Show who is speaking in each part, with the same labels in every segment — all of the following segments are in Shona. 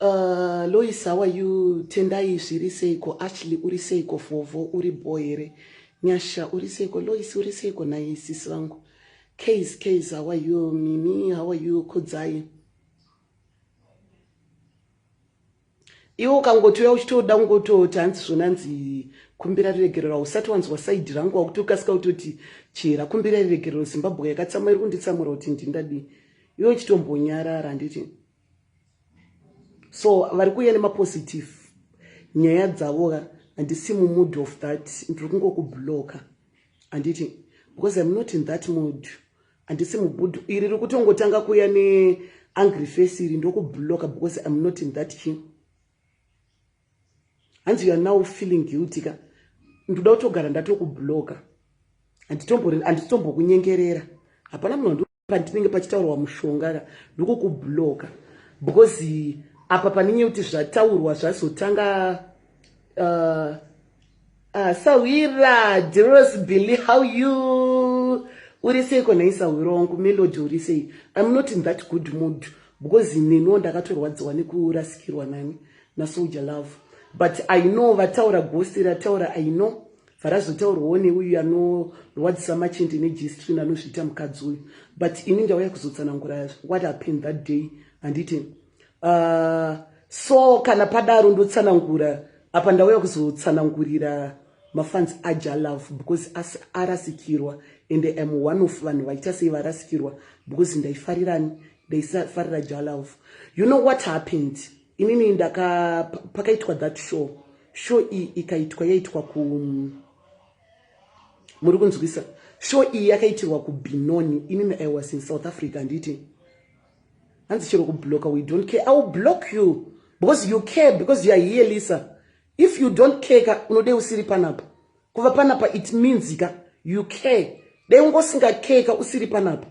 Speaker 1: Uh, Lois, how are you? Tendai zviri seiko? Ashley uri seiko? Vovo uri boy here? Nyasha uri seiko? Lois uri seiko? Nhai sisi vangu. Case, case, how are you? Mimi, how are you? Kudzai. iwe ukangotiuya uchitoda kungototi hanzi zvonanzi kumbira riregerero hausati wanzwa saidi rangu wakuti ukasika kutoti chihera kumbira riregerero zimbabwe yakatsamwa iri kunditsamura kuti ndindadii iwe uchitombonyarara handiti so vari kuuya nemapositive nyaya dzavoka handisi mumood of that ndiri kungokubloka handiti because im not in that mood handisi mugudu iri riri kutongotanga kuya neangry face iri ndokubloka because im not in that king hanzi youare now feeling guilty ka ndoda kutogara ndatokubloka handitombokunyengerera hapana munhu pandinenge pachitaurwa mushonga ka ndokukubloka because apa paninye kuti zvataurwa zvazotanga uh, Ah, sahwira Diros Billy how you uri seiko nhai sahwira wangu Melody uri sei I'm not in that good mood because neniwo ndakatorwadziwa nekurasikirwa nani naSoldier Love but I know vataura ghost rataura I know varazotaurwawo neuyu anorwadzisa machende nejistrin anozviita mukadzi uyu but ini ndauya kuzotsanangura what happened that day handiti Uh, so kana padaro ndotsanangura apa ndauya kuzotsanangurira mafans aja love because asi arasikirwa and am one of vanhu vaita sei varasikirwa because ndaifarirani ndaisafarira ja love you know what happened inini ndaka pakaitwa that show show iyi ikaitwa yaitwa ku muri kunzwisa show iyi yakaitirwa kubinoni inini i was in south africa handiti hanzi chero kubloka we don't care i will block you because you care because you are here lisa if you don't care ka unodei usiri panapa kuva panapa it means ka you care dai ungosinga care ka usiri panapa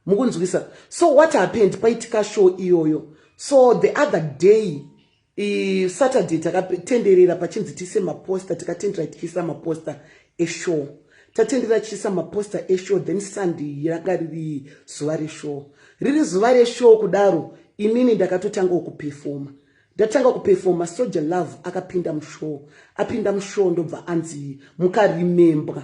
Speaker 1: mukunzwisa so what happened paitika show iyoyo so the other day I Saturday takatenderera pachinzi tiise maposta tikatendera tichiisa maposta eshow tatendera tichiisa maposta eshow then Sunday yanga riri zuva reshow riri zuva reshow kudaro inini ndakatotanga kupefoma ndatanga kupefoma soja love akapinda mushow apinda mushow ndobva anzi mukaremembwa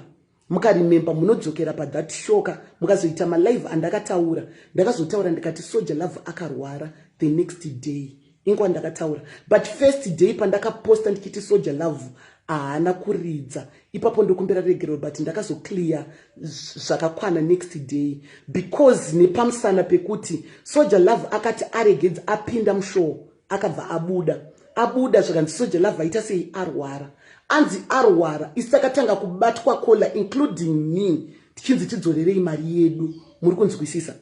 Speaker 1: mukaremember munodzokera pathat shoka mukazoita malive andakataura ndakazotaura ndikati soja love akarwara the next day inkwa ndakataura but first day pandakaposta ndichiti soja love haana kuridza ipapo ndokumbira regero but ndakazoclear zvakakwana next day because nepamusana pekuti soja love akati aregedza apinda mushow akabva abuda abuda zvikanzi soja love aita sei arwara anzi arwara isi takatanga kubatwa kola including me tichinzi tidzorerei mari yedu muri kunzwisisa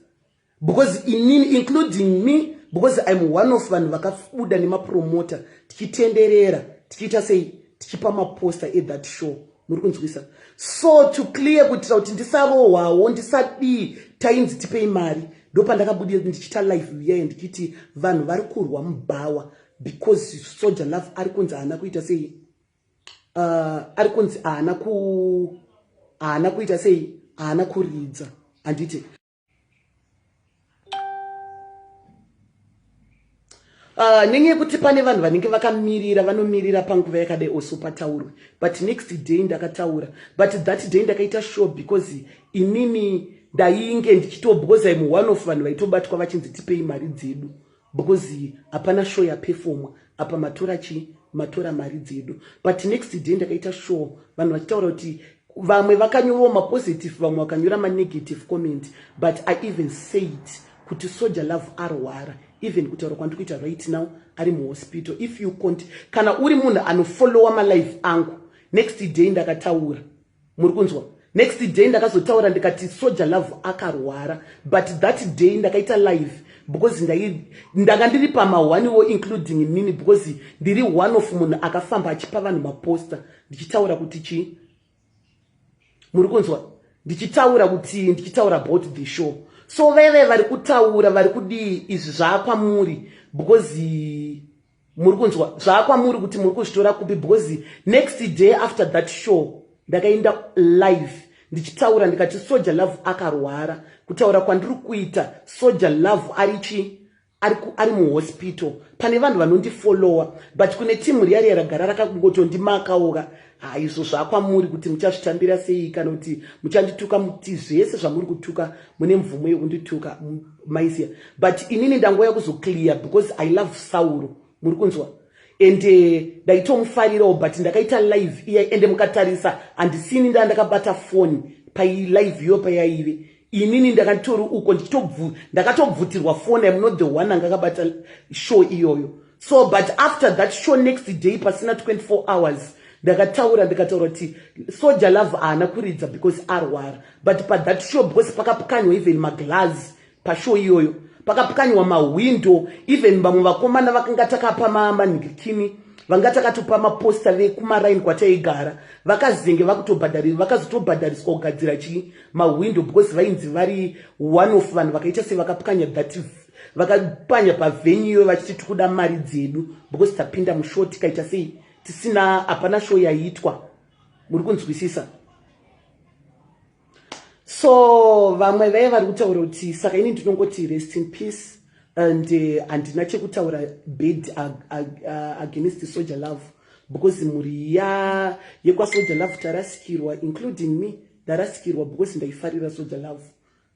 Speaker 1: because inini including me because im one of vanhu vakabuda nemapromota tichitenderera tichiita sei tichipa maposta ethat show muri kunzwisa so to clear kuitira kuti ndisarohwawo ndisadii tainzi tipei mari ndopandakabudira ndichita life viyaye ndichiti vanhu vari kurwa mubhawa because soja love ari kunzi haana kuita sei uh, ari kunzi haana ku haana kuita sei haana kuridza handiti Uh, nenyaya yekuti pane vanhu vanenge vakamirira vanomirira panguva yakadai also pataurwe but next day ndakataura but that day ndakaita show because inini ndainge ndichitobhoza imwe one of vanhu vaitobatwa vachinzi tipei mari dzedu because hapana show yapefomwa apa matora chii matora mari dzedu but next day ndakaita show vanhu vachitaura kuti vamwe vakanyorawo mapositive vamwe vakanyora manegative comment but i even said kuti soja love arwara even kutaura kwandiri kuita right now ari muhospital if you cont kana uri munhu anofollowa malife angu next day ndakataura muri kunzwa next day ndakazotaura ndikati soja love akarwara but that day ndakaita live because ndanga ndiri pamahwaniwo including inini because ndiri one of munhu akafamba achipa vanhu maposter ndichitaura kuti chii muri kunzwa ndichitaura kutii ndichitaura about the show so veve vari kutaura vari kudii izvi zvaakwamuri because muri kunzwa zvaakwamuri kuti muri kuzvitora kupi because next day after that show ndakaenda live ndichitaura ndikati soja love akarwara kutaura kwandiri kuita soja love ari chii ari, ari muhospital pane vanhu vanondifollowa but kune timu riya riya ragara rakangotondimakaoka ha izvo zvakwamuri kuti muchazvitambira sei kana kuti muchandituka muti zvese zvamuri kutuka mune mvumo yekundituka maisiya but inini ndangouya kuzoclear because i love sauro muri kunzwa and eh, ndaitomufarirawo but ndakaita live iya ende mukatarisa handisini ndaa ndakabata foni pailive iyo payaive inini ndakatori uko ndichitobvu ndakatobvutirwa foni am not the one anga akabata show iyoyo so but after that show next day pasina 24 hours ndakataura ndikataura kuti soja love haana kuridza because arwara but pathat show because pakapukanywa even maglass pashow iyoyo pakapukanywa mahwindo even vamwe vakomana vakanga takapa manhikikini vanga takatopa maposta vekumaraini kwataigara vakazenge vakutobhadharirwa vakazotobhadhariswa kugadzira chii mahwindo because vainzi vari one of vanhu vakaita sevakapwanya that vakapwanya pavhenyu iyoyo vachiti tikuda mari dzedu because tapinda mushow tikaita sei tisina hapana show yaiitwa muri kunzwisisa so vamwe veye vari kutaura kuti saka ini ndinongoti rest in peace and eh, handina uh, chekutaura bed uh, uh, uh, against soldier love because mhuri ya yekwasoldier love tarasikirwa including me Ndarasikirwa because ndaifarira soja love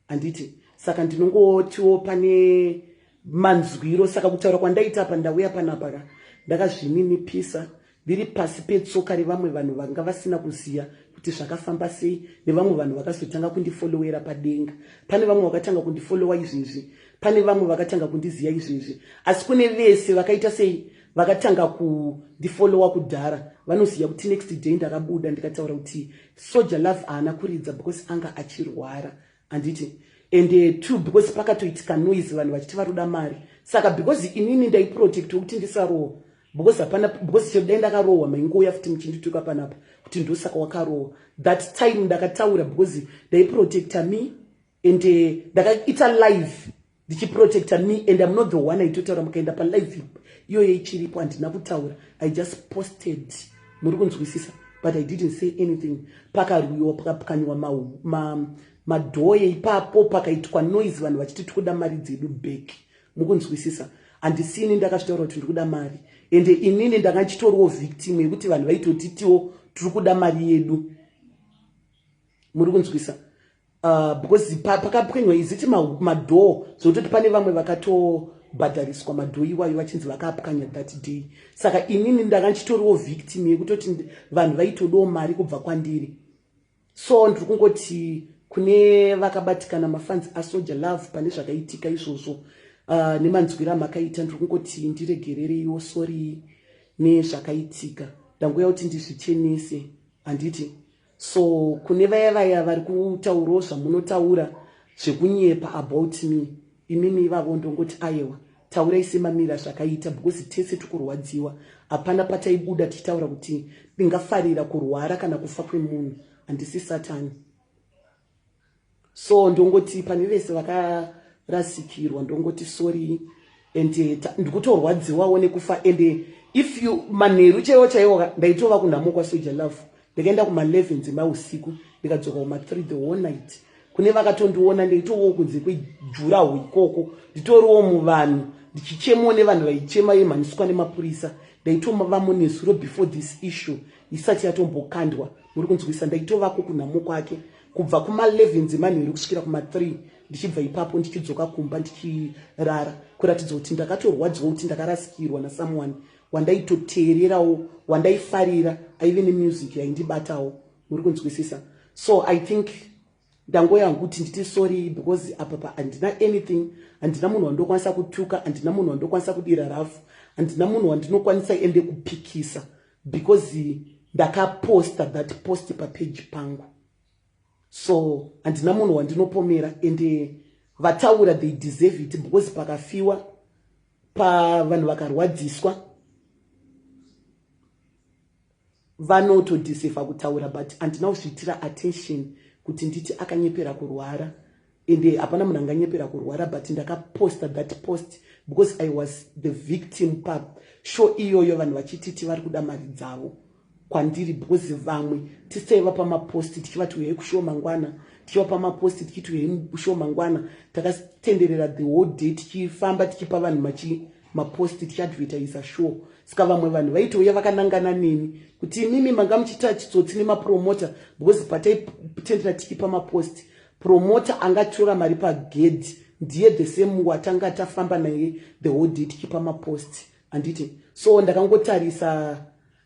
Speaker 1: handiti saka ndinongotiwo pane manzwiro saka kutaura kwandaita apa ndauya panapa ka ndakazvininipisa ndiri pasi petsoka revamwe vanhu vanga vasina kuziva kuti zvakafamba sei nevamwe vanhu vakazotanga kundifolowera padenga pane vamwe vakatanga kundifolowa izvezvi pane vamwe vakatanga kundiziva izvezvi asi kune vese vakaita sei vakatanga kundifolowa kudhara vanoziva kuti next day ndakabuda ndikataura kuti Soja love haana kuridza because anga achirwara handiti and uh, two because pakatoitika noise vanhu vachiti varoda mari saka because inini ndaiprotect wekuti ndisarohwa because hapana because chero dai ndakarohwa maingouya futi muchindituka panapa kuti ndosaka wakarohwa that time ndakataura because ndaiprotecta me and uh, ndakaita live ndichiprotecta me and im not the one aitotaura mukaenda palive iyoyo ichiripo handina kutaura i just posted muri kunzwisisa but i didn't say anything pakarwiwa pakapwanyiwa madhoye ma, ma ipapo pakaitwa noise vanhu vachiti tikuda mari dzedu back mukunzwisisa handisini ndakazvitaura kuti ndiri kuda mari ende inini ndanga ndichitoriwo victim yekuti vanhu vaitotitiwo tiri kuda mari yedu muri kunzwisa Uh, because pa, pakapwenywa is it madoor zvekutoti pane vamwe vakatobhadhariswa madoor iwayo vachinzi vakapwanya that day saka inini ndanga ndichitoriwo victim yekutoti vanhu vaitodawo mari kubva kwandiri so ndiri kungoti kune vakabatikana mafanzi asoja love pane zvakaitika izvozvo uh, nemanzwiro amakaita ndiri kungoti ndiregerereiwo sori nezvakaitika ndangouya kuti ndizvichenese handiti So kune vaya vaya vari kutaurawo zvamunotaura zvekunyepa about me imimi ivavo ndongoti ayewa taurai semamira zvakaita because tese tikurwadziwa hapana pataibuda tichitaura kuti ndingafarira kurwara kana kufa kwemunhu handisi satani so ndongoti pane vese vakarasikirwa ndongoti sorry and eh, ndikutorwadziwawo nekufa and eh, if you manheru chaiwo chaiwo ndaitova kunhamo kwasoja love ndikaenda kuma11 dzemausiku ndikadzoka kuma3 the whole night kune vakatondiona ndaitovawo kunze kwejuraho ikoko nditoriwo muvanhu ndichichemawo nevanhu vaichema yemhaniswa nemapurisa ndaitomavamo nezuro before this issue isati yatombokandwa muri kunzwisa ndaitovako kunhamo kwake kubva kuma11 dzemanheru kusvikira kuma3 ndichibva ipapo ndichidzoka kumba ndichirara kuratidza kuti ndakatorwadziwa kuti ndakarasikirwa nasomeone wandaitoteererawo wandaifarira aive nemusic yaindibatawo muri kunzwisisa so i think ndangoya hangu kuti nditi sorry because apa pa handina anything handina munhu wandinokwanisa kutuka handina munhu wandinokwanisa kudira rafu handina munhu wandinokwanisa ende kupikisa because ndakaposta that post papeji pangu so handina munhu wandinopomera ende vataura they deserve it because pakafiwa pavanhu vakarwadziswa vanotodhisefa kutaura but andina kuzviitira attention kuti nditi akanyepera kurwara ende hapana munhu anganyepera kurwara but ndakaposta that post because i was the victim pa show iyoyo vanhu vachititi vari kuda mari dzavo kwandiri because vamwe tisaiva pamaposti tichivati uyai kushow mangwana tichiva pamaposti tichiti uyai kushow mangwana takatenderera the whole day tichifamba tichipa vanhu machi mapost tichiadvertisa sure saka vamwe vanhu vaitouya vakanangana neni kuti imimi manga muchiita chitsotsi nemapromota because pataitendera tichipa mapost promota angatora mari pagedhi ndiye the same watanga tafamba naye the whole day tichipa mapost handiti so ndakangotarisa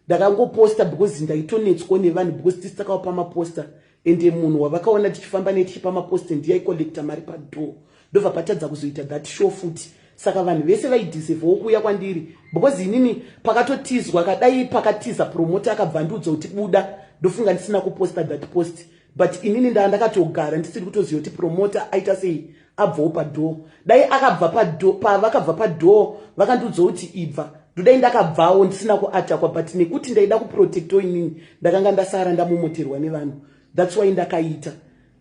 Speaker 1: ndakangoposta because ndaitonetswa nevanhu because tisi takavapa maposta ende munhu wavakaona tichifamba naye tichipa maposta ndiye aicollecta mari padoor ndobva patadza kuzoita that show futi saka vanhu vese vaideservawo kuuya kwandiri because inini pakatotizwa kadai pakatiza promota akabva ndiudza kuti buda ndofunga ndisina kuposta that post but inini ndaa ndakatogara ndisiri kutoziva kuti promota aita sei abvawo padoor dai akabva padoor pavakabva padoor vakandiudza kuti ibva ndodai ndakabvawo ndisina kuatakwa but nekuti ndaida kuprotecto inini ndakanga ndasara ndamomoterwa nevanhu thats why ndakaita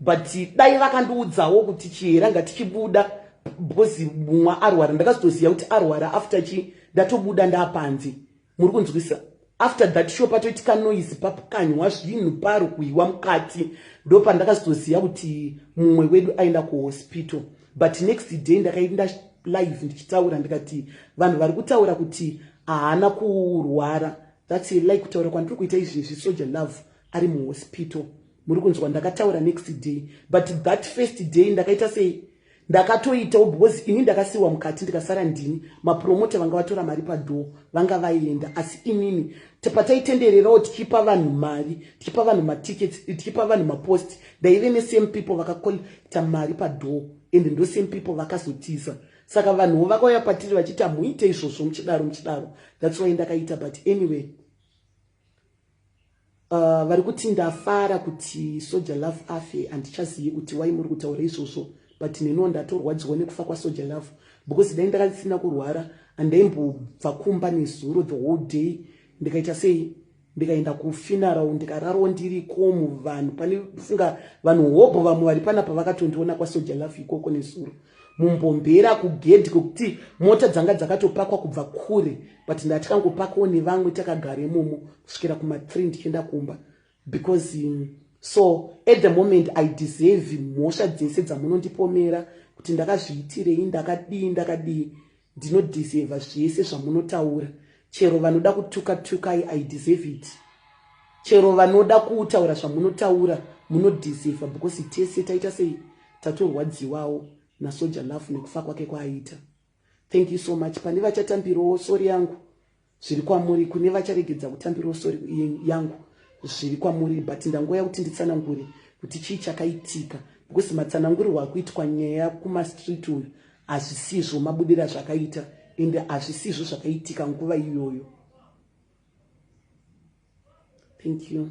Speaker 1: but dai vakandiudzawo kuti chihera ngatichibuda because mumwe arwara ndakazitoziva kuti arwara after chi ndatobuda ndapanze muri kunzwisa after that sho patoitika noise papukanywa zvinhu pari kuiwa mukati ndo pandakazoziva kuti mumwe wedu aenda kuhospital but next day ndakaenda live ndichitaura ndikati vanhu vari kutaura kuti haana kurwara thats li kutaura kwandiri kuita izvi izvi soja love ari muhospital muri kunzwa ndakataura next day but that first day ndakaita sei ndakatoitawo because ini ndakasiiwa mukati ndikasara ndini mapromota vanga vatora mari padhoo vanga vaienda asi inini pataitendererawo tichipa vanhu mari tichipa vanhu matickets tichipa vanhu mapost ndaive nesame people vakakolekta mari padhoo and ndo same people vakazotiza saka vanhuwo vakauya patiri vachiti hamuite izvozvo muchidaro muchidaro that's why ndakaita but anyway Uh, vari kuti ndafara kuti soja love afe handichazivi kuti wai muri kutaura izvozvo but neniwo ndatorwadziwa nekufa kwasoja love because dai ndakasina kurwara handaimbobva kumba nezuro the whole day ndikaita sei ndikaenda kufinarao ndikararwo ndiri komu vanhu pane funga vanhu hobho vamwe vari panapa vakatondiona kwasoja love ikoko nezuro mumbombeera kugedhi kwekuti mota dzanga dzakatopakwa kubva kure but ndatikangopakawo nevamwe takagara imomo kusvikira kumathree ndichienda kumba because um, so at the moment i deserve mhosva dzese dzamunondipomera kuti ndakazviitirei ndakadii ndakadii ndinodeserva zvese zvamunotaura chero vanoda kutuka tukai i deserve it chero vanoda kutaura zvamunotaura munodeserva because tese taita sei tatorwadziwawo nasoja love nekufa kwake kwaaita thank you so much pane vachatambirawo sori yangu zviri kwamuri kune vacharegedza kutambirawo sori yangu zviri kwamuri but ndangouya kuti nditsanangure kuti chii chakaitika because matsanangurwa akuitwa nyaya kumastreet uyu hazvisizvo mabudira zvakaita ende hazvisizvo zvakaitika nguva iyoyo thank you